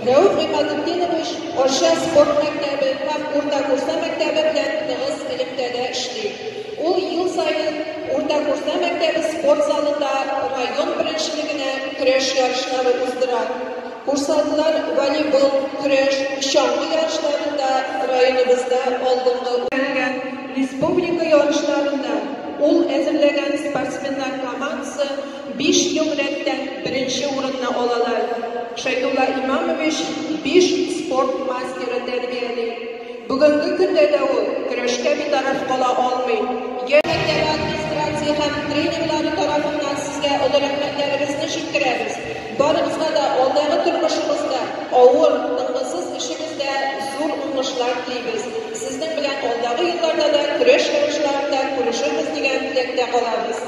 Рәүф Гыймадетдинович Арча спорт мәктәбе һәм Урта Курса мәктәбе белән тыгыз элемтәдә эшли. Ул ел саен Урта Курса мәктәбе спорт залында район беренчелегенә көрәш ярышлары уздыра. Курсантлар волейбол, көрәш, чаңгы ярышларында районыбызда алдынгы республика ярышларында ул әзерләгән спортсменнар командасы Биш ел рәттән беренче урынны алалар. Шәйдулла Имамович биш спорт мастеры тәрбияли. Бүгенге көндә дә ул көрәшкә битараф кала алмый. Яшь мәктәбе администрация һәм тренерлары тарафыннан сезгә олы рәхмәтләребезне җиткерәбез. Барыгызга да алдагы тормышыгызда, авыр, тынгысыз эшегездә зур уңышлар телибез. Сезнең белән алдагы елларда да көрәш ярышларында күрешербез дигән теләктә калабыз.